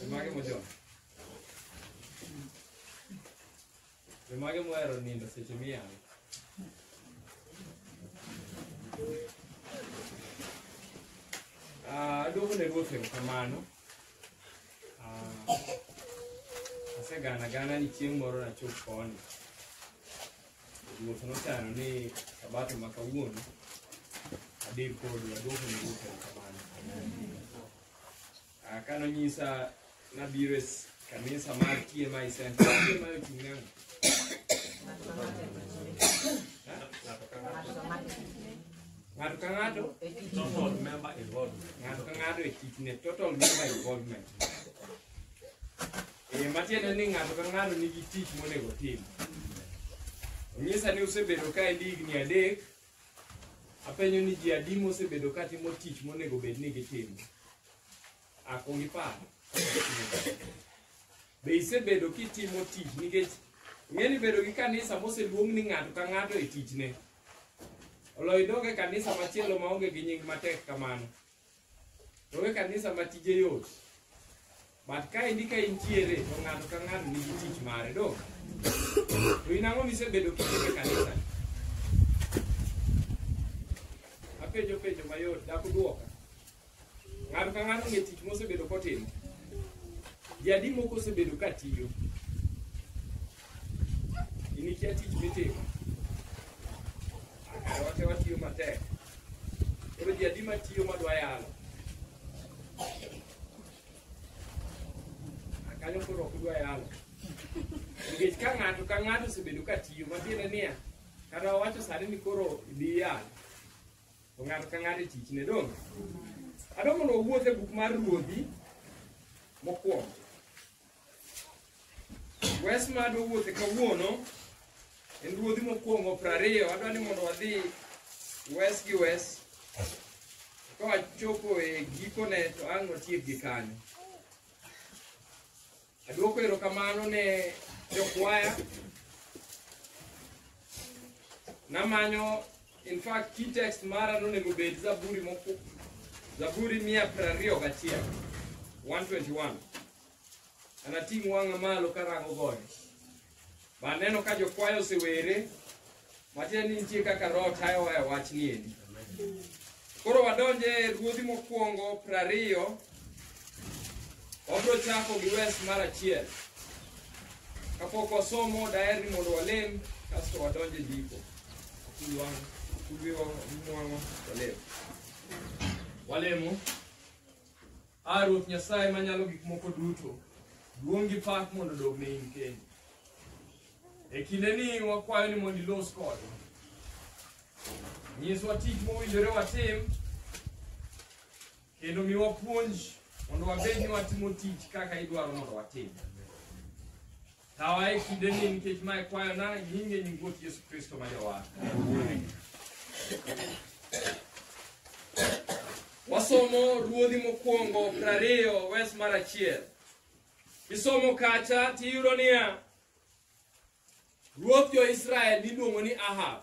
Jomage mojony. Jomage mohero nindo seche miyang'. Ah, Aduogo ne ruoth erokamano. Ah, Asegana gana ni chieng' moro nachop koni. Ruoth nochano ni sabato ma kawuono adhi kodu aduoko ne Ruoth erokamano. Ah, Ka nonyisa nabiro e s- kanisa mar TMI Center, TMI ochung' ne ang'o? Ng'ato ka ng'ato Total member involvement. ng'ato ka ng'ato e kitne total member involvement Eh, matiende ni ng'ato ka ng'ato nigi tich monego otim. Onyisa ni usebedo ka endi higni adek, apenyo ni ji adi mosebedo ka timo tich monego bed ni gitimo. Akwong ipar. Be isebedo kitimo tich nikech ng'eni bedo gi kanisa moseluong ni ng'ato ka ng'ato e tichne. Oloyo idog e kanisa machielo maonge gi nying matek kamano. Onge kanisa ma tije yot. But ka endi ka intiere to ng'ato ka ng'ato nigi tich mare do. To in ang'o misebedo kitime kanisa? Apenjo penjo mayot dak udwoka. Ng'ato ka ng'ato ng'e tich mosebedo kotimo. Jadi moko osebedo ka tiyo. Inikia tich mitimo. Wate watiyo matek. Koro ji adi matiyo madwa yalo? Kanyo koro ok dwa yalo. Nikech ka ng'ato ka ng'ato osebedo ka tiyo, matiende niya, kata wawacho sani ni koro idhi yalo. To ng'ato ka ng'ato e tichne dong'. Adwa mondo wawuoth e buk mar Ruodhi mokwongo. Wes ma adwa wuothe kawuono en ruodhi mokwongo prariyo adwa ni mondo wadhi wes gi wes ka wachopo e gikone to ang' watiek gi kanyo adwoko erokamano ne jokwaya namanyo in fact key text mara nonego bed zaburi moku zaburi mia prariyo gachiel 121 Anating' wang'a malo karango gode. Ba aneno ka jokwayo osewere, matiende ni nitie kaka Roho tayowa e wach ni endi. Koro wadonje e ruodhi mokwongo prariyo, wabiro chako gi wes mar achiel. Kapok wasomo daher ni mondo walem, kasto wadonje ndiko. Kulwang', kulwiwa, mwang'o, walem. Walemo. A Ruoth Nyasaye manyalo gik moko duto, duong' gi pak mondo odog ne in kendi. E kinde ni wakwayo ni mondo ilos kodwa. Nyiswa tich mowinjore watim kendo miwa puonj mondo wabed ni watimo tich kaka idwaro mondo watim. Tawa e kinde ni nikech mae kwayo na nyinge nying Ruoth Yesu Kristo ma jawar. Wasomo ruodhi mokwongo prariyo wes mar achiel. Isomo kacha tiyudo niya, Ruoth jo-Israel niluongo ni Ahab.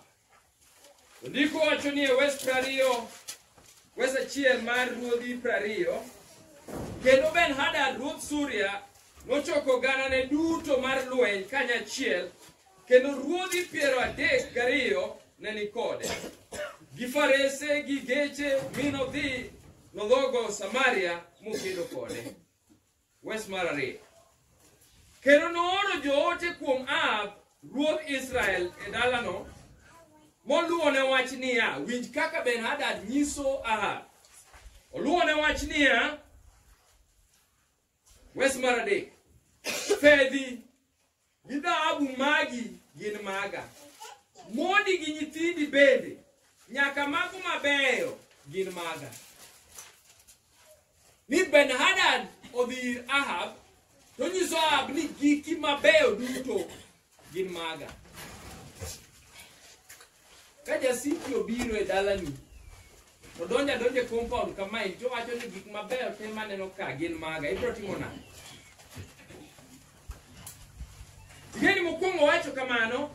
To Ndiko wacho ni e wes prariyo, wes achiel mar ruodhi prariyo, kendo Ben-Hadad ruodh Suria nochoko ganane duto mar lweny kanyachiel, kendo ruodhi piero adek gariyo ne ni kode. Gi farese gi geche mi nodhi nodhogo Samaria mokedo kode. Wes mar ariyo. Kendo nooro joote kuom Ahab ruodh Israel e dalano moluwone wach niya, winj kaka Ben-Hadad nyiso Ahab. Oluwone wach niya, wes mar adek, fedhi Gi dhahabu magi gin maga. Mondi gi nyithindi bende, nyaka mago mabeyo gin maga. Ni Ben-Hadad odhi ir Ahab, to nyiso Ahab ni giki mabeyo duto gin maga. Ka jasiki obiro e dalani, odonjo adonja e compound kamae, to wacho ni gik mabeyo te maneno ka gin maga, ibiro timo nade? Ng'eni mokwongo wacho kamano,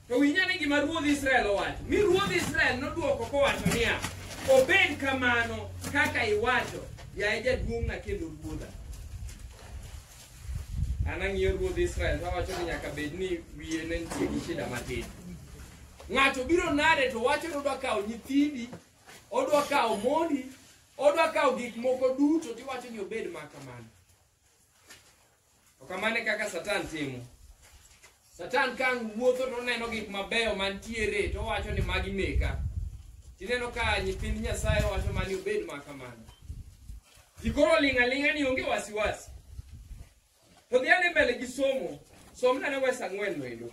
to winj ane gima ruodh Israel owacho. Mi ruodh Israel nodwoko kowacho niya, obed kamano kaka iwacho, yaye jaduong'na kendo ruodha. An ang'iyo ruodh Israel to awacho ni nyaka bed ni wiye ne nitie gi shida matin. Ng'ato biro nade to wacho ni odwa kawo nyithindi, odwa kawo mondi, odwa kawo gik moko duto to iwacho ni obed ma kamano. To kamano e kaka Satan timo. Satan ka ang' wuotho to oneno gik mabeyo mantiere to owacho ni magi meka. Tineno ka nyithind Nyasaye wacho mani obed ma kamano. Ji koro oling' aling'a ni onge wasiwasi. To dhi ane mbele gi somo, somna ne wes ang'wen no endo.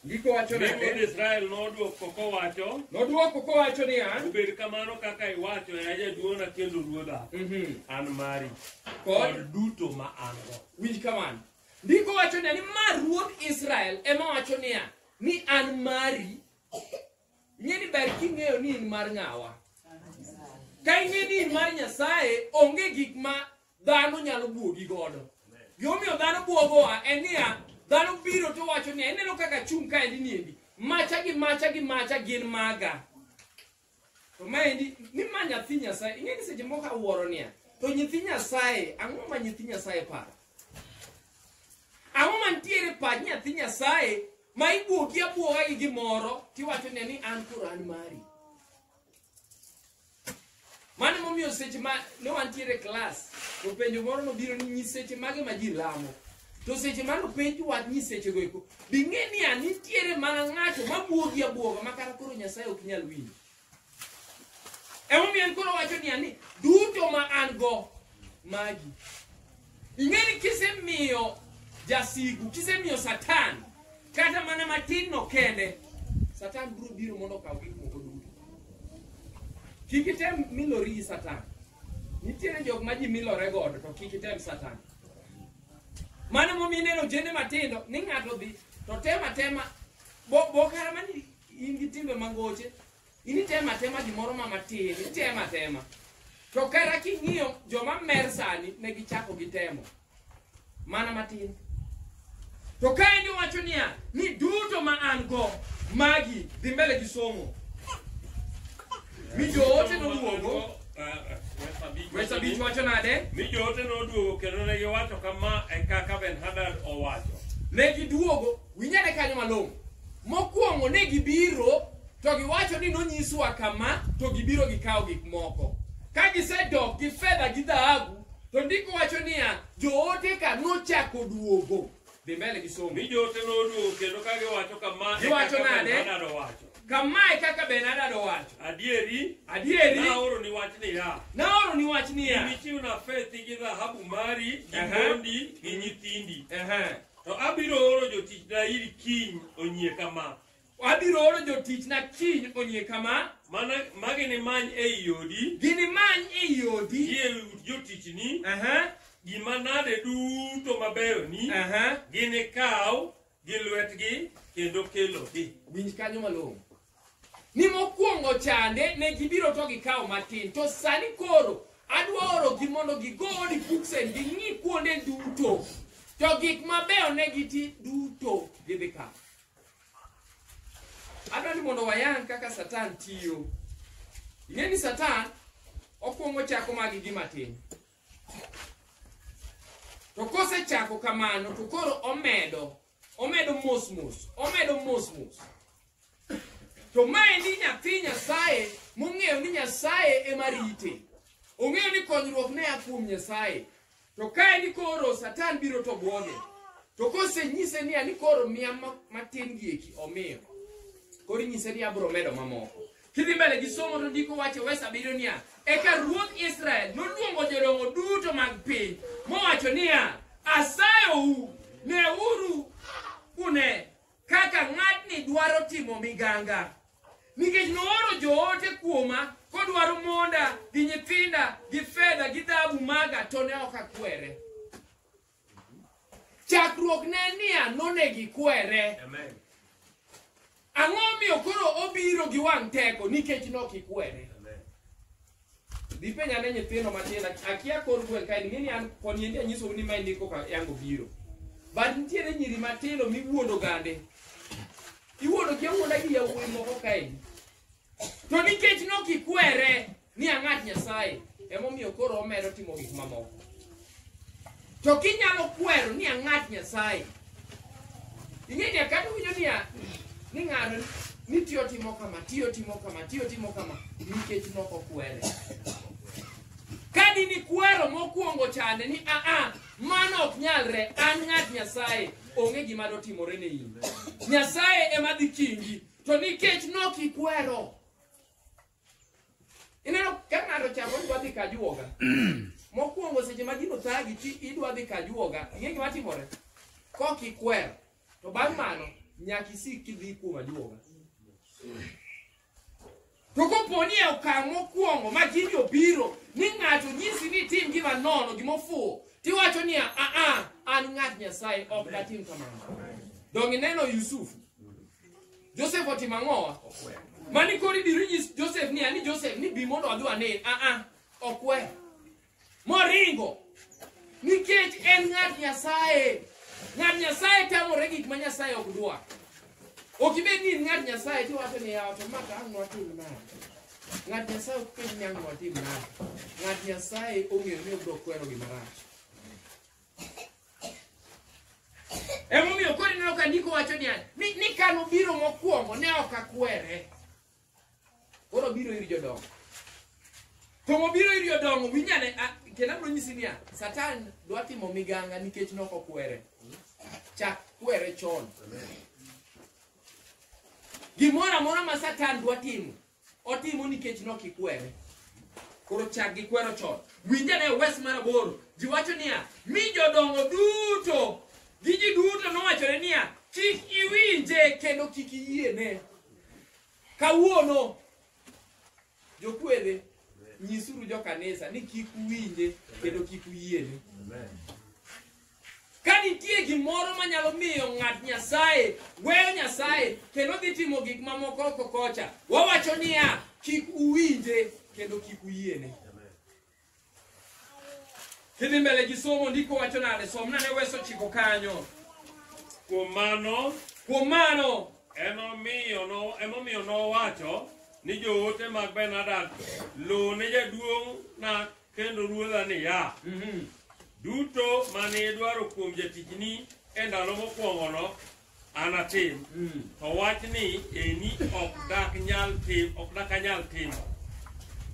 Ndiko wacho Mi wuod nade? Israel nodwoko kowacho, Nodwoko kowacho niya, Obed kamano kaka iwacho, ya jaduong'na kendo ruodha, mhm, an mari kod kod duto ma an-go. winj kamano. Ndiko wacho niya ni ma ruodh Israel ema wacho niya ni an mari. Ing'e ni ber king'eyo ni in mar ng'awa. Ka ing'e ni in mar Nyasaye, onge gik ma dhano nyalo bwogi godo gimomiyo dhano bwogowa en niya dhano biro to wacho niya ineno kaka chung' kaendi niendi macha gi macha gi macha gin maga to maendi ni ma nyathi nyasaye ing'e ni seche moko awuoro niya to nyithi nyasaye ang'o ma nyithi nyasaye paro ang'o mantiere pach nyathi nyasaye ma ibwogi abwoga gi gimoro tiwacho niya ni an koro an mari Mano momiyo seche ma ne wantiere e klas, to penjo moro nobiro ni nyiseche mage ma ji lamo. To seche ma nopenj wach nyisechego eko, bing'e ni a nitiere mana ng'ato ma bwogi abwoga ma kata koro Nyasaye ok nyal winjo. Emomiyo en koro wacho niya ni duto ma an go magi. Ing'e ni kisemiyo jasigu, kisemiyo Satan kata mana matin no kende satan biro biro mondo okaw gik moko duto kik item milori gi satan nitiere jok ma ji milore godo to kik item satan mano momiyo ineno ojende matindo ni ng'ato dhi to tem atema bo- bokara ma ni in gi timbe mangoche in item atema gimoro ma matin item atema to kara king'iyo joma mer sani ne gichako gitemo mana matin to ka en iwacho niya ni duto ma an go magi dhi mbele gi somo mi joote noduogo wes abich wacho nade mi joote noduogo kendo ne giwacho kama e kaka ben hadad owacho ne giduogo winyane kanyo malong'o mokwongo ne gibiro to giwacho ni nonyiswa kama to gibiro gikawo gik moko ka gisedok gi fedha gi dhahabu To ndiko wacho niya, joote ka nochako duogo. Dhi mbele gi somo. Mi joote noduogo kendo ka giwacho kama. Giwacho nade? Benadado wacho. Kama e kaka Benadado wacho. Adieri. Adieri. Naoro ni wach niya. Naoro ni wach niya. Imichiwna fethi gi dhahabu mari, gi mondi, gi nyithindi. To abiro oro jotichna iri kiny onyie kama. Abiro oro jotichna kiny onyie kama. Mana ma ginimany ei odi. Ginimany ei odi. Gi e ut jotichni. Aha. Gima nade duto mabeyo ni. Aha. Ginikaw gi lwetgi kendo kelogi. Winj kanyo malong'o. Ni mokwongo chande ne gibiro to gikawo matin. To sani koro adwa orogi mondo gigo odi buksen ging'i kuonde duto. To gik mabeyo ne giti duto gidhi kawo. adwa ni mondo wayang kaka satan tiyo ing'e ni satan okwongo chako magi gi matin to kosechako kamano to koro omedo omedo mos mos omedo mos mos to maendi nyathi nyasaye mong'eyo ni nyasaye ema rite ong'eyo ni konyruok ne a kuom nyasaye To ka en koro Satan biro to bwoge. To kosenyise niya ni koro miya ma- matin gieki omiyo. Koro inyise ni abiro medo mamoko. Kidhi mbele gi somo to ndiko wacho wes abiriyo niya, eka ruodh Israel noluongo jodongo duto mag piny mowacho niya, asayou, neuru une kaka ng'atni dwaro timo miganga nikech nooro joote kuoma kodwaro monda gi nyithinda gi fedha gi dhahabu maga to ne ok akwere chakruok ne niya nonegi kwere Amen. ang'o omiyo koro obiro gi wang' teko nikech nokikwere dhi penja ne nyithindo matin ak- akia kor gweng' kae ng'eni an koni endi anyisou ni ma endi koka yango biro but nitiere nyiri matindo miwuondo gande iwuondo gi awuonda gi yawuoyi moko kaendi to nikech nokikwere ni ang'at nyasaye emomiyo koro omedo timo gik mamoko To kinyalo kwero ni ang'at Nyasaye. Ing'e ni kata winjo ni a- ni ng'ato ni tiyo timo kama, tiyo timo kama, tiyo timo kama nikech nok okwere. Ka di ni kwero mokwongo chande ni a a mano ok nyalre an ng'at Nyasaye onge gima dotimore ne in. Nyasaye ema dhi kingi to nikech nok ikwero Ineno ka ng'ato chako idwa dhi kajuoga. Mokwongo seche ma gino thagi ti idwa dhi kajuoga, ing'e gima timore? Kok ikwer. To bang' mano nyaka isik kidhi kuom ajuoga. To kopo ni e okang' mokwongo ma gini obiro ni ng'ato nyisi ni tim gima nono, gima ofuwo, tiwacho niya, "Ah ah, an ng'at Nyasaye ok datim kamano." Donge ineno Yusufu? Joseph otimo ang'owa? Mani koro ibiro nyis Joseph ni ani Joseph ni bi mondo adhi ane. Ah ah, okwe. Moringo. Nikech en ng'at Nyasaye. Ng'at Nyasaye tamore gik ma Nyasaye ok dwa. Ok ibed ni in ng'at Nyasaye to iwacho ni yawa to ma ka ang' watim nade? Ng'at Nyasaye ok penj ni ang' watim nade. Ng'at Nyasaye ong'eyo ni obiro kwero gima rach. Emomiyo koro ineno ka ndiko wacho niya, ni ni ka nobiro mokwongo ne ok akwere. Koro obiro ir jodongo. To mobiro ir jodongo winyane kendo abiro nyisi niya, Satan dwa timo miganga nikech ne ok okwere. Chak kwere chon. Gimoro amora ma Satan dwa timo otimo nikech nokikwere koro chak gi kwero chon winja ne wes mar aboro ji wacho niya mi jodongo duto gi ji duto nowachore niya kik iwinje kendo kik iyiene kawuono jokwere nyisuru jokanisa ni kik uwinje kendo kik uyiene Ka nitie gimoro manyalo miyo ng'at Nyasaye weyo Nyasaye kendo dhi timo gik mamoko oko kocha, wawacho niya, kik uwinje kendo kik uyiene. Kidhi mbele gi somo ndiko wacho nade? Somna ne weso chiko kanyo. Kuom mano, Kuom mano, enomiyo no- emomiyo nowacho ni joote mag Ben-Hadad, luw ne jaduong' na Kendo ruodha niya, Mhm. duto mane idwaro kuom jatichni e ndalo mokwongono anatim, Mm. to wachni eni ok dak nyal tim, ok dak anyal timo.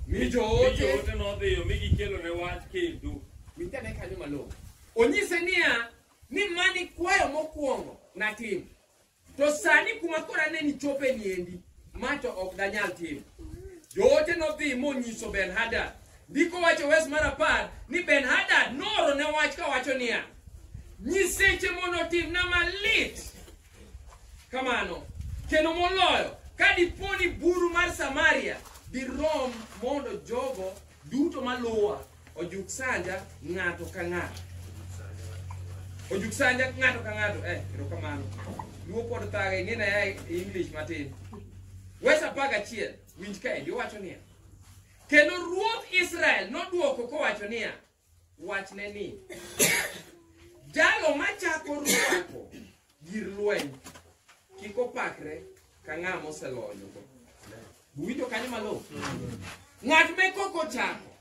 Mi Mi joote joote nodhiyo mi gikelone wach kendo. winja ne kanyo malong'o. Onyise niya, ni mani kwayo mokwongo natim. To sani kuma kora ne nichope niendi, ma to ok danyal timo. Joote nodhi monyiso Ben-Hadad. Ndiko wacho wes mar apar ni Ben-Hadad nooro ne wach kawacho niya, nyiseche mondo otimna malit kamano kendo moloyo ka dipo ni buru mar Samaria dirom mondo jogo duto maluwa Ojuk sanja ng'ato ka ng'ato. Ojuk sanja ng'ato ka ng'ato. Eh, erokamano. Luo pod thaga ing'e na ya English matin. Wes apar gachiel winj kaendi owacho niya. Kendo ruodh Israel nodwoko kowacho niya, wachne ni, jalo machako rwako gir lweny kik opakre ka ng'a moseloyo go uwinjo kanyo malo ng'at me kok ochako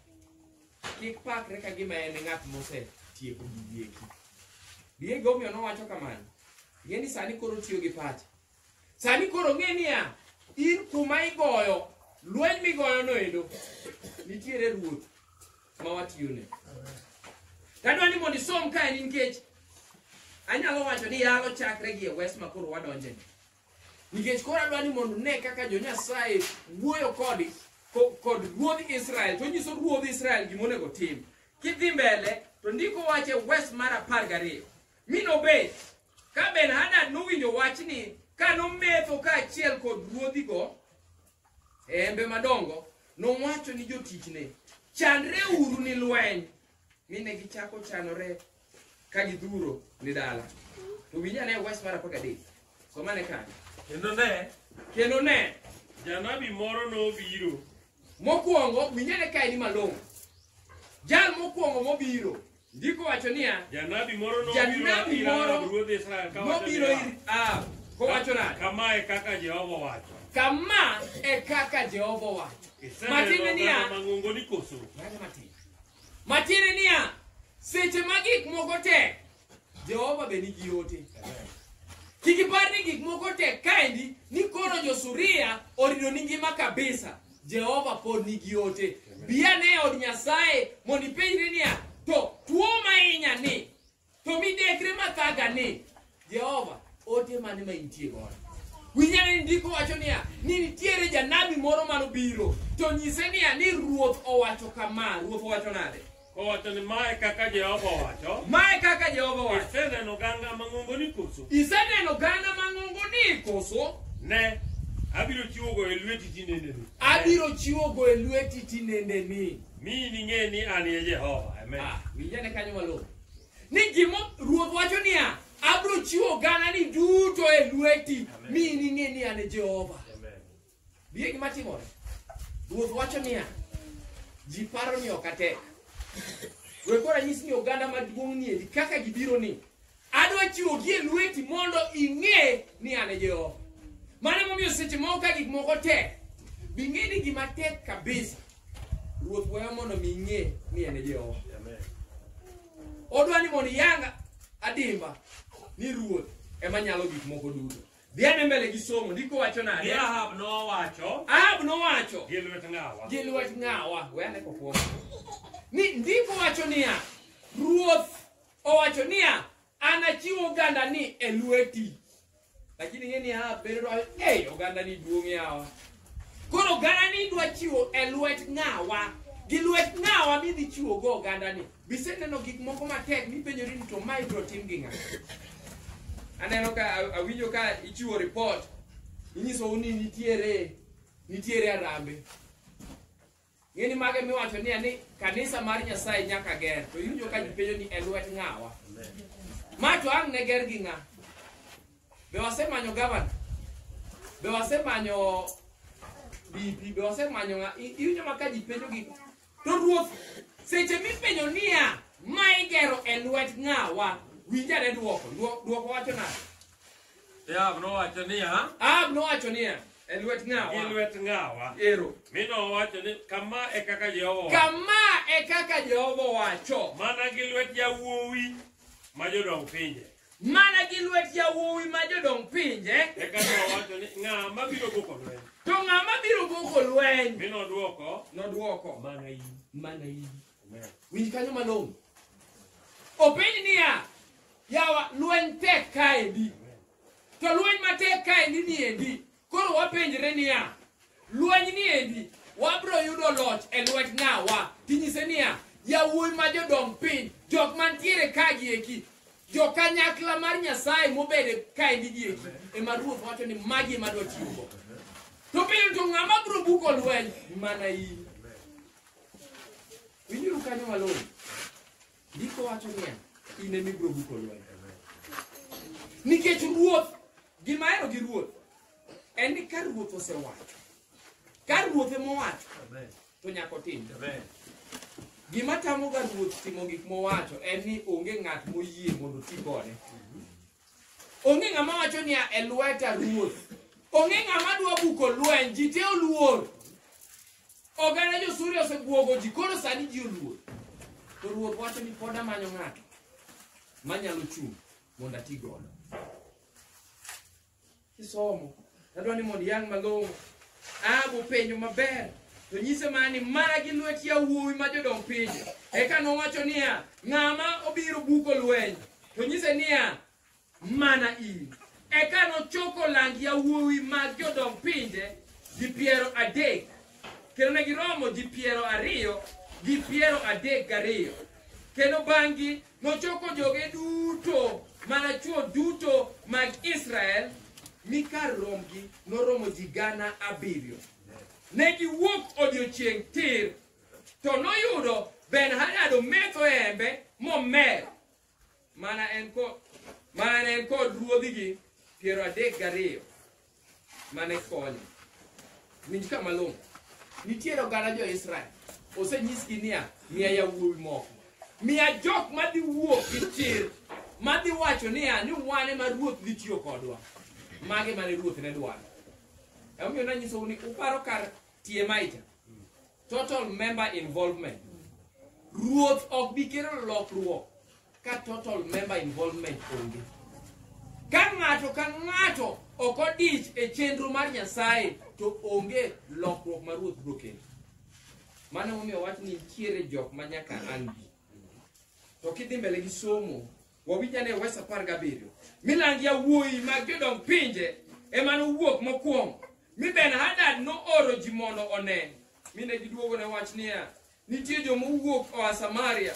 kik pakre ka gima en e ng'at mosetieko gigieki diego omiyo nowacho kamano ng'e ni sani koro tiyo gi pacha sani koro ng'e niya in kuma igoyo lweny migoyono endo nitiere ruoth ma watiyone tadwa ni mondo isom kae ni nikech anyalo wacho ni yalo chakre gi e wes ma koro wadonje nikech koro adwa ni mondo ne kaka jonyasaye wuoyo kod ko- kod ruodh israel to nyiso ruodh israel gima onego tim kidhi mbele to ndiko wache wes mar apar gariyo mi nobet ka ben hadad nowinjo wachni ka nometho kaachiel kod ruodhigo e hembe madongo nowacho ni jotichne chandre uru ni lweny mi ne gichako chanore ka gidhuro ni dala to winj ane wes mar apar gadek somane kanyo Kendo ne, kendo ne janabi moro nobiro. mokwongo winj ane kae ni malong'o jal mokwongo mobiro Ndiko wacho niya, Janabi moro nobiro janabi ir moro Ahab ruodh Israel ka wacho nobiro niya, ir Ahab kowacho nade? Kama e kaka Jehova wacho. Kama e kaka Jehova owacho. Iseneno Matiende oganda niya, mang'ongo ni koso? Mano matin. Matiende niya, seche ma gik moko tek, Jehova be nigi ote. Kik ipar ni gik moko tek kaendi ni koro jo-Suria orido ni ngima kabisa. Jehova pod nigi ote. Bi ane e od Nyasaye mondo ipenjri niya, to tuo mahinya ni, to midekre mathaga ni, Jehova, ote mane ma intie godo? Winyane ni ndiko wacho niya, ni nitiere janabi moro manobiro, to nyise niya, ni Ruoth owacho kama, Ruoth owacho nade? Owacho ni mae kaka Jehova owacho. Mae kaka Jehova owacho. Iseneno oganda mang'ongo ni koso? Iseneno oganda mang'ongo ni koso? Ne, abiro chiwogo e lweti tinendeni. Abiro chiwogo e lweti tinendeni. Mi ning'e ni an e Jehova. Amen. Ah, winjane kanyo malong'o. Ni gimo Ruoth wacho niya, abiro chiwo ogandani duto e lweti mi ining'e ni an e Jehova. Bie gima timore. Ruoth wacho niya, ji paro ni ok atek. We koro anyis ni oganda maduong' ni endi kaka gibiro ni. Adwa chiwo gi e lweti mondo ing'e ni an e Jehova. Mano emomiyo seche moko ka gik moko tek, bing'e ni gima tek kabisa. Ruoth weyo mondo mi ing'e ni en e Jehova. Odwa ni mondo iyanga adimba ni Ruoth ema nyalo gik moko duto. Dhi ane mbele gi somo, ndiko wacho nade? Ni Ahab nowacho. Ahab nowacho. Gi lwet ng'awa. Gi lwet ng'awa. We ane kokuoma. Ni ndiko wacho niya, ruoth owacho niya, anachiw ogandani e lweti. Lakini ng'e ni Ahab bende dwacho, ei ogandani duong' yawa. Koro ogandani dwa chiwo e lwet ng'awa. Gi lwet ng'awa midhi chiwo go ogandani. Be iseneno gik moko matek mipenjori ni to mae ibiro tim gi ng'a? Aneno ka a- awinjo ka ichiwo ripot, inyisou ni nitiere nitiere arambe. Ng'eni mage miwacho ni ani kanisa mar Nyasaye nyaka ger, to iwinjo ka ji penjo ni e lwet ng'awa. Ma to ang' ne ger gi ng'a? Be wasemanyo gavana? Be wasemanyo DP? Be wasemanyo ng'a? I- Iwinjo ma ka ji penjo gi To ruoth, seche mipenjo niya, ma igero e lwet ng'awa, winjane dwoko. Dwo- Dwoko wacho nade? Ahab nowacho niya, Ahab nowacho niya, e lwet gi ng'awa. lwet ng'awa. Ero. Mi nowacho ni, kama e kaka Jehova owacho. Kama e kaka Jehova owacho. Mana gi lwet yawuowi ma jodong pinje. Mana gi lwet yawuowi ma jodong pinje. Eka nowacho ni ng'a mabiro buko lweny. To ng'a mabiro buko lweny. Mi nodwoko. Nodwoko. Mana in. Mana in. Winj kanyo malong'o. Openj niya, yawa lweny tek kaendi. To lweny matek kaendi niendi. Koro wapenjre niya, lweny ni endi wabiro yudo loch e lwet ng'awa? Tinyise niya, yawuoyi ma jodong piny, jok mantiere ka gi eki, jo kanyakla mar Nyasaye mobede ka endi gi eki, ema Ruoth wacho ni magi ema dwa tiyogo. To piny to ng'ama biro buko lweny mana in. Winjuru kanyo malong'o. Ndiko wacho niya, in ema ibiro buko lweny. Nikech ruoth, gima ahero gi ruoth en ni ka ruoth osewacho, ka ruoth ema owacho, to nyaka otim. Gima tamoga ruoth timo gik mowacho en ni onge ng'at moyie mondo oti kode. Onge ng'ama wacho niya e lweta ruoth. Onge ng'ama dwa buko lweny, ji te oluor. Oganda jo-Suria osebwogo ji, koro sani ji oluor. To ruoth wacho ni pod amanyo ng'ato manyalo chung' mondo ati godo. kisomo adwa ni mondo iyang' malong'o ahabu penjo maber to nyise mana ni mana gi lwet yawuowi ma jodong pinje eka nowacho niya ng'ama obiro buko lweny to nyise niya mana in eka nochoko lang yawuowi mag jodong pinje ji piero adek kendo ne giromo ji piero ariyo gi piero adek gariyo kendo bang'gi Nochoko joge duto, mana chwo duto mag Israel, mi kar rombgi noromo ji gana abiriyo. Ne giwuok odiechieng' tir, to noyudo Ben-Hadad ometho e hembe momer, mana en kod mana ne en kod ruodhigi piero adek gariyo. mane konye winj ka malong'o nitiere oganda jo-israel osenyisgi niya miya yawuowi moko miya jok madhi wuok gi chir madhi wacho niya ni wan ema ruoth dhi tiyo kodwa mage mane ruoth ne dwaro emomiyo nanyisou ni uparo kar tie maija Total member involvement. Ruoth ok bi kelo lokruok ka total member involvement onge. Ka ng'ato ka ng'ato ok odich e chenro mar Nyasaye to onge lokruok ma ruoth biro kelo. Mano momiyo wach ni nitiere jok ma nyaka an gi. To kidhi mbele gi somo wawinj ane wes apar gabiriyo milang yawuoyi mag jodong pinje ema nowuok mokwongo mi ben hadad nooro ji mondo one mine giduogo ne wach niya nitie joma owuok oa samaria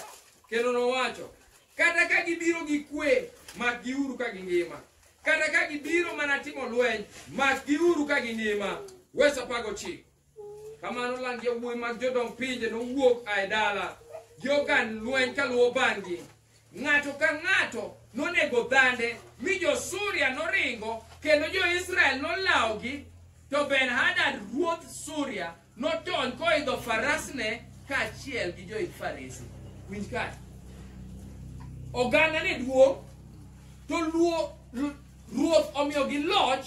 kendo nowacho kata ka gibiro gi kwe mak giuru ka gingima kata ka gibiro mana timo lweny mak giuru ka gingima wes apar gochiko Kamano land yawuoyi mag jodong pinje nowuok a e dala gi ogand lweny kaluwo bang'gi. Ng'ato ka ng'ato nonego dhande, mi jo-Suria noringo, kendo jo-Israel nolawogi. To Ben-Hadad ruodh Suria notony koidho farasne kaachiel gi joidh farese. Winj kae. Oganda ne duong', to luo- lu- ruoth omiyogi loch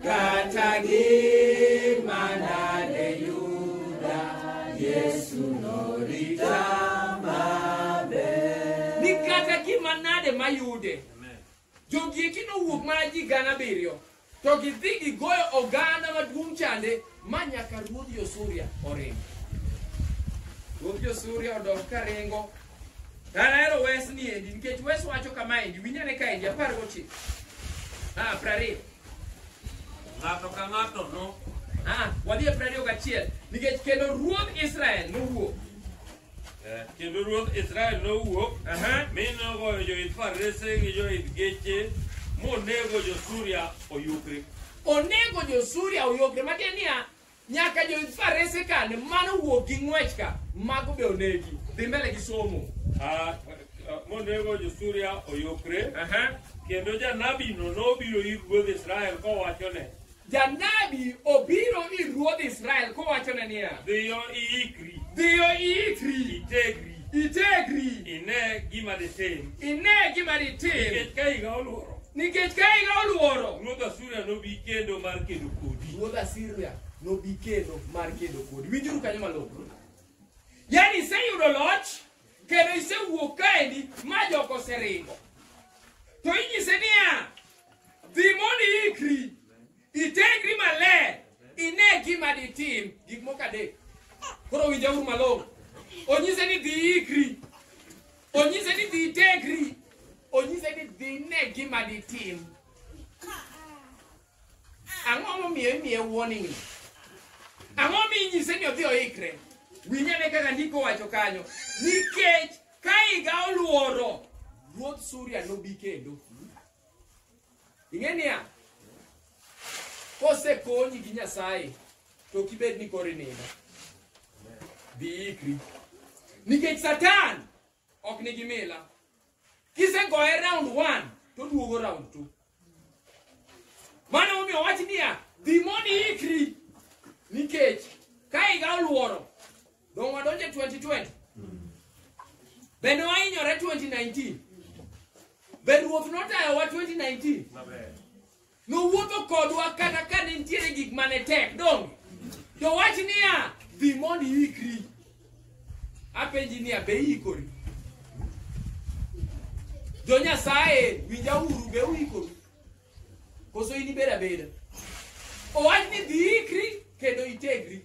Kata gima nade yuda, Yesu norita maber. Ni kata gima nade mayude. Jogi eki nowuok mana ji gana abiriyo, to gidhi gigoyo oganda maduong' chande ma nyaka ruodh Josuria oring. Ruodh Josuria odok ka ringo. An ahero wes ni endi nikech wes wacho kama endi, winjane ka endi apar gochiko. Ah, prariyo. Ng'ato ka ng'ato no. Ah, wadhi e piero ariyo gachiel. Nikech kendo ruodh Israel nowuok. Eh, Kendo ruodh Israel nowuok Aha. mi nogoyo joidh farese gi joidh geche monego jo-Suria oyukre. Onego jo-Suria oyogre. Matiende niya, nyaka joidh farese kane mano wuok gi ng'wech ka mago be onegi dhi mbele gi somo Ah, ah, monego jo-Suria oyokre Aha. kendo janabino nobiro ir ruodh Israel kowachone janabi obiro ir ruodh israel kowachone niya dhiyo iikri dhiyo iikri itegri itegri ine gima ditim ine gima ditim nikech ka higa olworo nikech ka higa olworo ruodh Asuria nobi kendo mar kedo kodi. Ruodh Asuria nobi kendo mar kedo kodi. Winjuru kanyo malong'o. Yaani iseyudo loch kendo isewuok kaendi ma jogo oseringo. To inyise niya, dhi mondo iikri, itengri maler, ine gima ditim gik moko adek. Koro winjauru malong'o. Onyise ni dhi iikri, onyise ni dhi itengri, onyise ni dhi ine gima ditim. ang'o momiyo imiye warning ni ang'o minyise ni odhi oikre winyane kaka ndiko wacho kanyo nikech ka higa oluoro ruodh suria nobi kendo ing'e niya kosekonyi gi nyasaye to kibed ni koro inindo dhi ikri nikech satan ok nigi mila kisegoye round one to duogo round two mano momiyo wach niya dhi mondo iikri nikech ka higa oluoro dong' wadonje 2020 bende wahinyore 2019 be ruoth notayowa 2019 Nowuotho kodwa kata ka ne nitiere gik ma ne tek, donge? To wach niya, dhi mondo iikri. Apenji niya, be iikori? Jo Nyasaye, winja uru, be uikori? Koso in ibeda beda? Owach ni dhi ikri kendo itegri.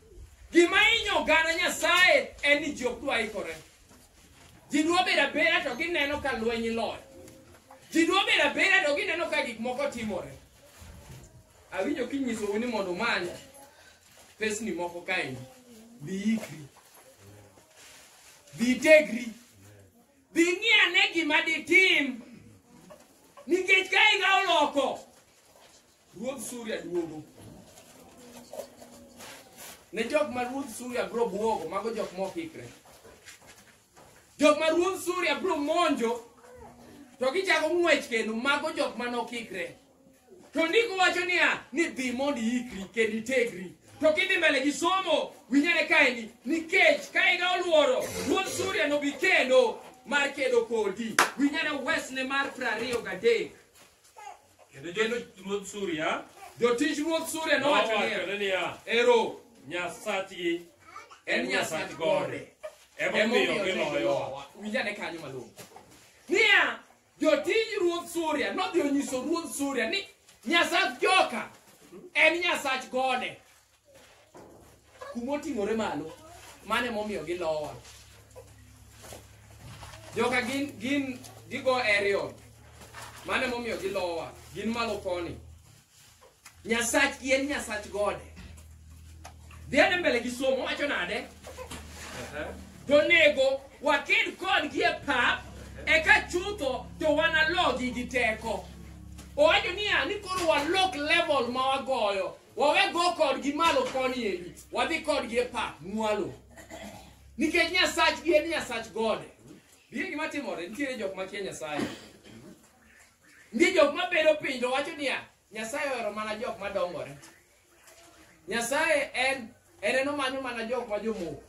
Gima inyo oganda Nyasaye en ni ji ok dwa ikore. Ji dwa bedo abeda to gineno ka lweny loyo. Ji dwa bedo abeda to gineno ka gik moko timore. Awinjo kinyisou ni mondo umany pesni moko kaendi. Bi ikri. Bi tegri. Bi ng'i ane gima ditim. Nikech ka higa oloko, Ruodh Suria duogo. Ne jok ma ruodh Suria bro buogo, mago jok ma ok ikre. Jok ma ruodh Suria bro monjo, to gichako ng'wech kendo, mago jok ma nok ikre. To ndiko wacho niya, ni dhi mondo iikri kendo itegri. To kidhi mbele gi somo, winyane kaeni, nikech ka iga oluoro, ruodh Suria nobi kendo mar kedo kodi. Winyane wesne mar prariyo gadek. Kendo jotich ruodh Suria Jotich ruodh Suria nowacho niya, nowachone niya, Ero, Nyasachgi en Nyasach gode. Emomiyo Emomiyo giloyowa. giloyowa. Winjane kanyo malong'o. Niya, jotij ruodh Suria nodhi onyiso ruodh Suria ni Nyasach joka en Nyasach gode. kuma oting'ore malo mano emomiyo gilowa joka gin gin gigo aerial mano emomiyo gilowa gin malo koni nyasach en nyasach gode dhiane mbele gi somo wacho nade to nego waked kodgi e pap eka chutho to wanalogi gi teko owacho niya ni koro walok level ma wagoyo wawe go kodgi malo koni endi wadhi kodgi e pap mwalo nikech nyasachgi en nyasach gode bie gima timore nitiere jok makia nyasaye nitie jok mabedo piny to wacho niya nyasaye ohero mana jok madongore nyasaye en en enomanyo mana jok ma jomoko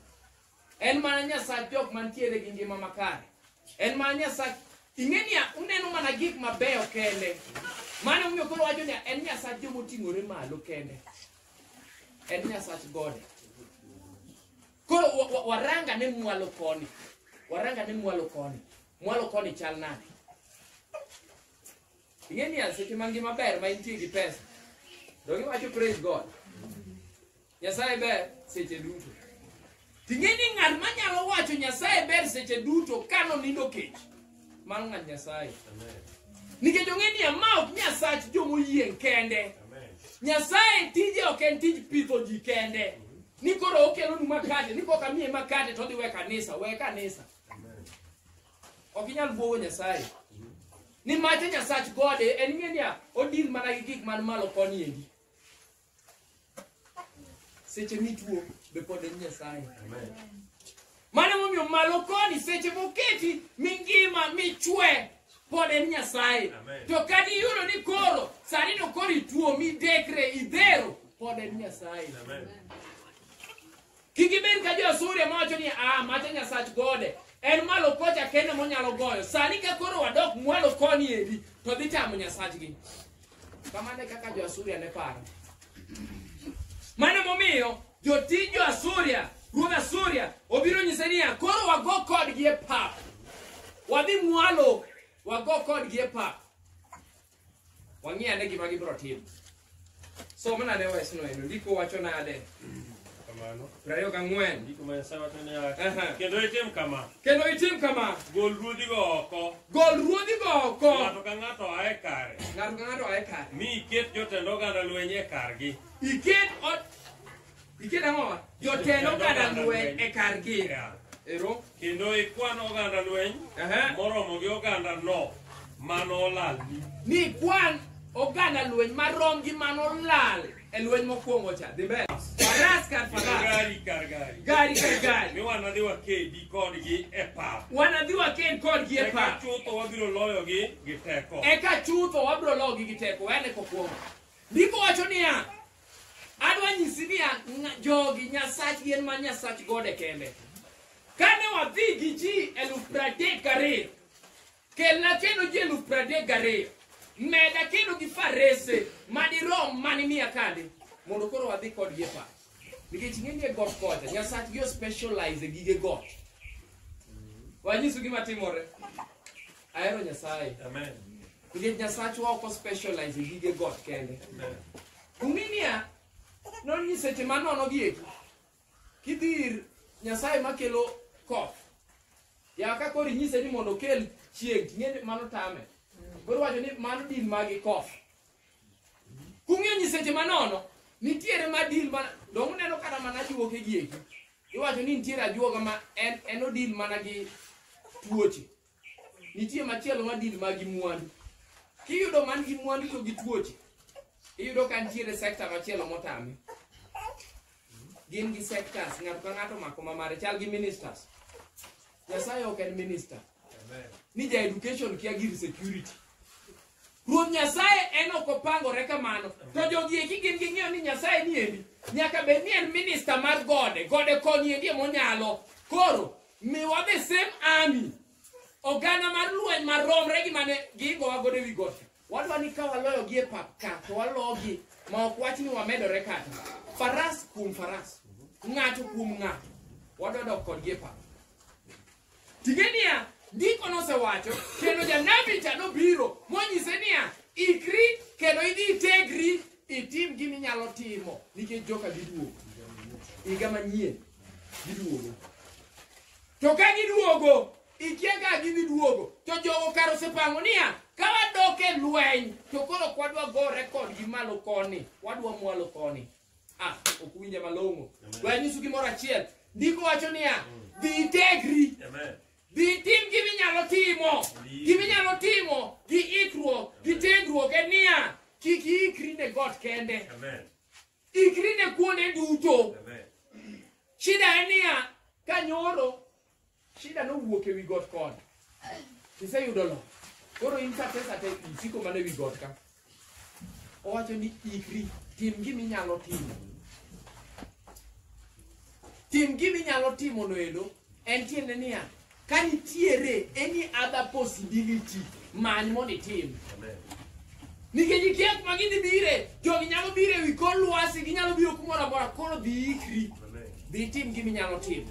En mana Nyasach jok mantiere gi ngima makare. En mana Nyasach ing'e niya, uneno mana gik mabeyo kende. Mano omiyo koro wacho niya, en Nyasach joma oting'ore malo kende. En Nyasach gode. Koro wa- wa- waranga ne mwalo koni. Waranga ne mwalo koni. Mwalo koni chal nade? Ing'e niya, seche ma ngima ber ma intie gi pesa, donge iwacho praise God. Nyasaye ber seche duto. Ting'e ni ng'at ma nyalo wacho Nyasaye ber seche duto ka nonindo kech. Mano ng'at Nyasaye. Nikech ong'e ni ma ok Nyasach joma oyieng' kende. Nyasaye tije ok en tij pidho ji kende. Ni koro okelonu makate, ni kok amiye makate to odhi we kanisa, we kanisa. Ok inyal bwogo Nyasaye. Ni mache Nyasach gode en ng'e niya odil mana gi gik man malo koni endi. seche mituo be pod en nyasaye mano emomiyo malo koni seche moketi mingima michwe pod en nyasaye to kata iyudo ni koro sani to koro ituo midekre idhero pod en nyasaye Kik ibed ka jo-Asuria mawacho ni, a macha nyasach gode, en malo kocha kende monyalo goyo. Sani ka koro wadok mwalo koni endi, to dhi tamo nyasachgi. Kamano e kaka jo-Asuria ne paro. Mano momiyo jotij jo-Asuria, ruodh Asuria, obiro nyise niya, koro wago kodgi e pap. Wadhi mwalo, wago kodgi e pap. wang'i ane gima gibiro timo so mana ne wesno eno ndiko wacho nade kamano prariyo gang'wen ndiko ma nyasaye wacho niya kendo itim kama kendo itim kama gol ruodhigo oko gol ruodhigo oko ng'ato ka ng'ato ae kare ng'ato ka ng'ato ae kare mi iket jotend oganda lweny e kargi iket Ikiet ang'o ma? Jotend oganda lweny e kargi. Yeah. Ero. Kendo ikwan oganda lweny Aha. moromo gi oganda no mano olalni. Ni kwan oganda lweny marom gi mano lal e lweny mokwongo cha. Dhi mbele. Faras kar Kendo faras. gari kar gari. Gari kar gari. Mi wanadhi wakedi kodgi e pap. Wanadhi waked kodgi e Eka pap. chutho wabiro loyogi gi teko. Eka chutho wabiro logi gi teko. Wene kokwongo. Ndiko wacho niya, adwa nyisi niya ng- jogi nyasach gin ma nyasach gode kende kane wadhi gi ji eluf pradek gariyo kelna kendo ji eluf pradek gariyo meda kendo gi farese madirom mani miya kande mondo koro wadhi kodgi e pap nikech ing'e ni e got kocha nyasachgi ospecialize e gige got wanyisu gima timore ahero nyasaye Amen. Nikech Nyasachwa ok ospecialize e gige got kende. Ung'i niya, non nyiseche manono gi eki. Kidhi ir Nyasaye makelo koth. Ya ka koro inyise ni mondo okel chieng' ting'e ni mano tame. Koro wacho ni mano din magi koth. Kung'e nyiseche manono, nitiere ma din ma dong uneno kata mana juoke gi eki. Iwacho ni nitiere ajuoga ma en en odil mana gi tuoche. nitie machielo ma deal ma gi mwandu kiyudo man gi mwandu to gi tuoche iyudo ka nitiere sector machielo motame gin gi sectors ng'ato ka ng'ato mako ma mare chal gi ministers nyasaye ok en minister ni ja education kia gir security ruoth nyasaye en ok opangore kamano to jogi eki gin ging'eyo ni nyasaye ni endi nyaka bed ni en minista mar gode gode koni endi emonyalo koro Miwa the same army. Oganda mar lweny maromre gi mane gigowa godo ewi got. Wadwa ni ka waloyo gi e pap ka to walogi ma ok wach ni wamedore kata. Faras kuom faras. Ng'ato kuom ng'ato. Wadwa dok kodgi e pap. Tige niya, ndiko nosewacho kendo janabi cha nobiro monyise niya, ikri kendo idhi itegri itim gima inyalo timo nikech joka giduogo. Higa manyien giduogo to ka giduogo ikia ka gidhi duogo to jogo kar osepango niya ka wadok e lweny to koro ok wadwa gore kodgi malo koni wadwa mwalo koni ah ok winje malong'o we anyisu gimoro achiel ndiko wacho niya dhi itegri Amen. dhi itim gima inyalo timo gima inyalo timo gi ikruok gi tegruok en niya kik iikri ne got kende Amen. Ikri ne kuonde duto. Shida en niya, ka nyoro, shida nowuok ewi got koni. Iseyudo lo. Koro in sate sate isiko mana ewi got ka. Owacho ni ikri, tim gima inyalo timo. Tim gima inyalo timo noendo, en tiende niya, Ka nitiere any other possibility, many mondo itim. Nikech ikia kuma gidhi bire, jogi nyalo biro ewi kor lwasi, ginyalo biro kumoro amora, koro dhi ikri, dhi itim gima inyalo timo.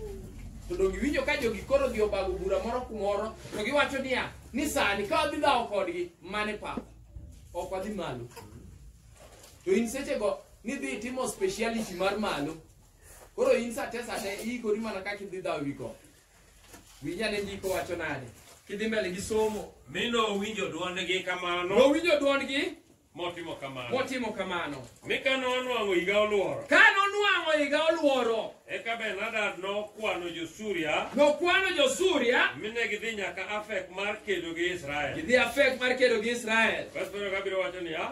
To donge iwinjo ka jogi koro odhi obago bura moro kumoro, to giwacho niya, ni sani ka wadhi dhawo kodgi, mane pap, ok wadhi malo. To in sechego nidhi itimo speciality mar malo, koro in sate sate iikori mana kaka idhi dhawo ewi got. Winjane ndiko wacho nade? Kidhi mbele gi somo. Mi nowinjo dwondgi kamano. Nowinjo dwondgi. Motimo kamano. Motimo kamano. Mi ka nonwang'o higa olworo. Ka nonwang'o higa olworo. Eka Ben-Hadad nokwano jo-Suria. Nokwano jo-Suria. Mi ne gidhi nyaka Afek mar kedo gi Israel. Gidhi Afek mar kedo gi Israel. Bas biro kabiro wacho niya.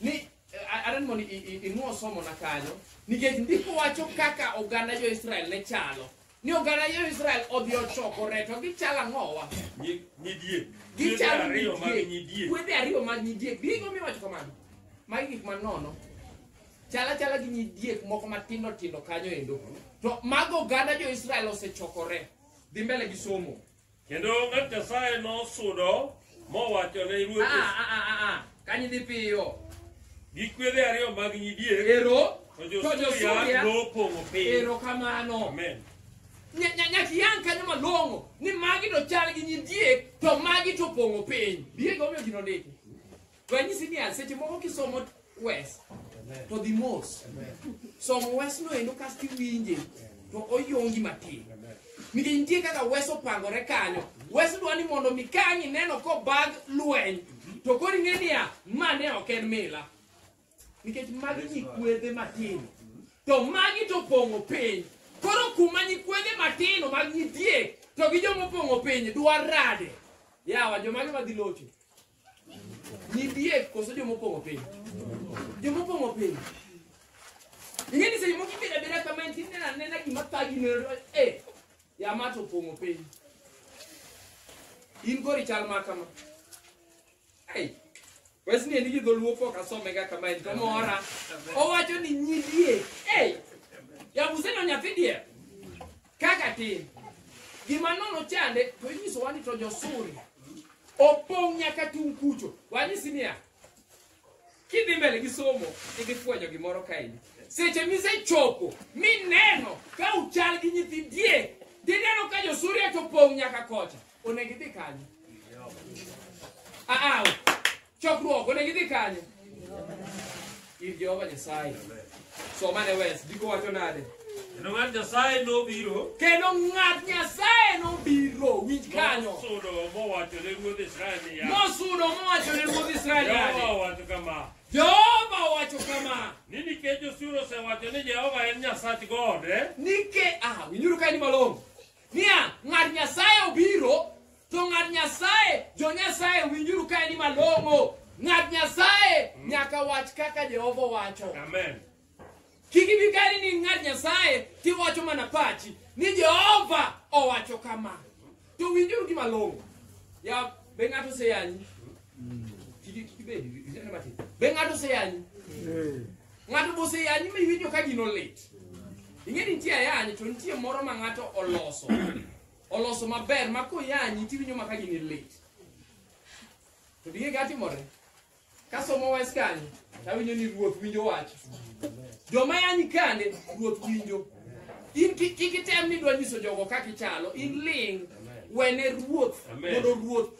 ni eh, a- aran mondo i- i- inwo somo na kanyo nikech ndiko wacho kaka oganda jo-israel ne chalo ni oganda jo-israel odhi ochokore to gichalo ang'owa Nyi- Nyidie. gichalo Ariyo mag nyidiek nyidie. kwedhe ariyo mag nyidiek gigo miwacho kamano magi gik manono chala chala gi nyidiek moko matindo tindo kanyo endo to mago oganda jo-israel osechokore dhi mbele gi somo Kendo ng'at Nyasaye nosudo mowacho ne ruoth Ah, ah, ah, ah, ah. Kanyi dhi piyo. gi kwedhe ariyo mag nyidiek Ero. to To jo-Suria jo-Suria. nopong'o piny. Ero kamano. Amen. Nya- nya- Nyaka yang kanyo malong'o ni magi to chal gi nyidiek to magi to pong'o piny. Diego omiyo gino ndiki. To anyisi niya, seche moko kisomo wes, to dhi mos. Somo wesno endo kasto iwinje, to oyongi matin. Nikech nitie kaka wes opangore kanyo. Wes dwa ni mondo mi ka ang' ineno kobag lweny, to koro ing'e niya, ma ne ok en mila. Nikech magi nyikwedhe matindo. To magi to opong'o piny. Koro kuma nyikwedhe matindo mag nyidiek, to gi joma opong'o piny dwa rade. Yawa, jomage madhi locho? Nidiek koso joma opong'o piny? Joma opong'o piny. Ing'e ni seche moko ibedo abeda kama en tin nena nena gima thagi neno eh yama to opong'o piny. In kori chal ma kama. Hey, wes ni en gi dholuo pok asome ga kama en to mora. Owacho ni nyidie. Hey, ya museno nyathi dier. kaka tin gima nono chande to inyisowa ni to josuri opong' nyaka tung' kucho wanyisi niya kidhi mbele gi somo idhi fwenyo gimoro kaendi seche misechopo mineno ka uchal gi nyithi diek tineno ka josuria to pong' nyaka kocha onego idhi kanyo aaw chokruok onego idhi kanye ir jehova nyasaye somane wes ndiko wacho nade Kendo ng'at Nyasaye nobiro kendo ng'at nyasaye nobiro winj kanyo mosudo mowacho ne ruodh Israel niya, mosudo mowacho ne ruodh israel Jehova nade owacho kama, jehova owacho kama ni nikech osuru osewacho ni Jehova en Nyasach gode, nike ah winjuru kaeni malong'o niya ng'ad nyasaye obiro to ng'ad nyasaye jo nyasaye winjuru ka en malong'o ng'ad nyasaye nyaka wach kaka jehova wacho Amen. kik ibi kani ni ng'ad nyasaye tiwacho mana pachi ni jehova owacho kama to winjuru gi malong'o ya be ng'ato oseyanyi Kik- kik ibed, ineno matin. be ng'ato oseyanyi Ng'ato be oseyanyi ma iwinjo ka gino lit. Ing'e ni nitie ayany to nitie moro ma ng'ato oloso. Oloso maber ma koyanyi to iwinjo ma ka gini lit. To dinge ka timore. Ka somo wes kanyo to awinjo ni ruoth winjo wach. Joma yanyi kande ruoth winjo. In ki- kik item ni dwa nyiso jogo kaka ichalo. In ling' wene ruoth Amen. mondo ruoth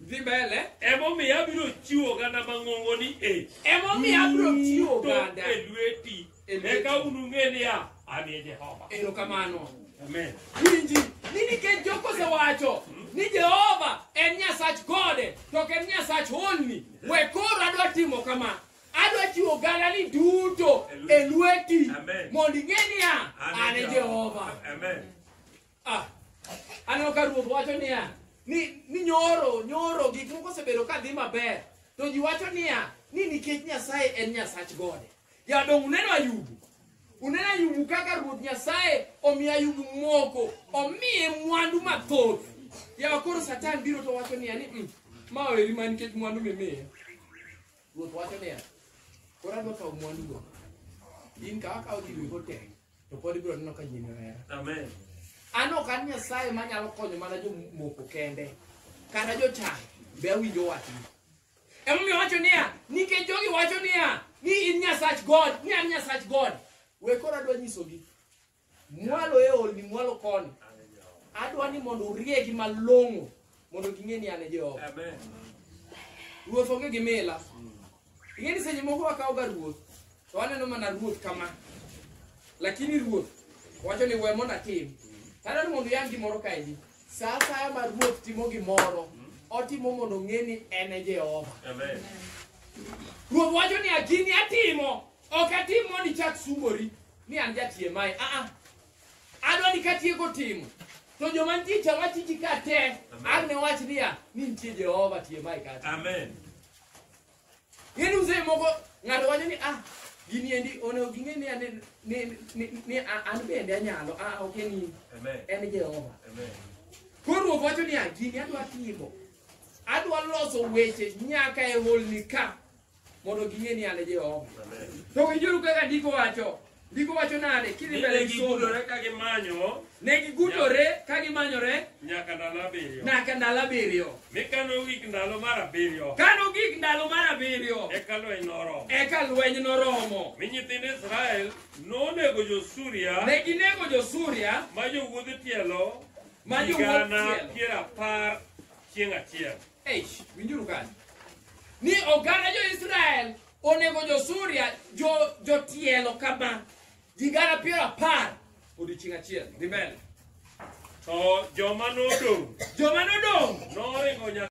Dhi mbele. Emomiyo abiro chiwo oganda mang'ongoni e. Emomiyo abiro chiwo oganda. E lweti. Eka unung'e niya, an e Jehova. Erokamano. Amen. Winji, ni nikech Joko osewacho ni Jehova en Nyasach gode to ok en Nyasach holni, we koro adwa timo kama. Adwa chiwo ogandani duto e lweti Amen. mondo ing'e niya, an e Jehova. Amen. Ah, aneno ka ruoth wacho niya ni, ni nyoro nyoro gik moko osebedo ka dhi maber to ji wacho niya ni nikech nyasaye en nyasach gode jadong uneno ayubu uneno ayubu kaka ruoth nyasaye omiyo ayubu moko omiye mwandu mathoth yawa koro satan biro to wacho niya ni "Mm, ma oeri ma nikech mwandu mimiye ruoth wacho niya koro adwa kawo mwandugo in kawa kawo gigo tek to pod ibiro neno ka nyini ohera amen an ok an nyasaye manyalo konyo mana jomoko kende kata jochayo be awinjo wachni emomiyo wacho niya nikech jogi wacho niya ni in nyasach god ni an nyasach god we koro adwa nyisogi mwalo e olni mwalo koni adwa ni mondo uriegi malong'o mondo ging'e ni an e Jehova. Amen. Ruoth onge gi mila. Ing'e ni seche moko wakawoga ruoth to waneno mana ruoth kama, lakini ruoth wacho ni we mondo atim. Tadwaro mondo iyang gimoro kaendi. Sa asaya ma ruoth timo gimoro, otimo mondo ong'e ni en e Jehova. Amen. Ruoth wacho ni agini atimo, ok atim mondo ichak sungori ni an jatie mae. Ah ah, adwa ni katieko timo to joma nitie cha wach ji ka te an ne wach niya ni nitie jehova tie mae kata Amen. ng'eni mzee moko ng'ato wacho ni ah gini endi onego ging'e ni ane- ni- ni- ni a- an bende anyalo ah ok en in Amen. en jehova Amen. koro ruoth wacho niya gini adwa timo adwa loso weche nyaka e holni ka mondo ging'e ni an e Jehova. To winjuru kaka ndiko wacho. Ndiko wacho nade? Kidhi Ni mbele ne gi somo. gigudore ka gimanyo Ne gigudore ka gimanyore nyaka ndalo abiriyo. nyaka ndalo abiriyo. Mi ka nogik ndalo mar abiriyo, Ka nogik ndalo mar abiriyo, eka lweny noromo. eka lweny noromo. Mi nyithind Israel nonego jo-Suria Ne ginego jo-Suria ma jowuodh tielo ma jowuodh higana tielo. piero apar chieng' achiel. Eish, winjuru kanyo ni oganda jo-israel onego jo-suria jo- jotielo kama ji gana piero apar odiechieng' achiel dhi mbele To joma nodong' joma nodong' noringo nyaka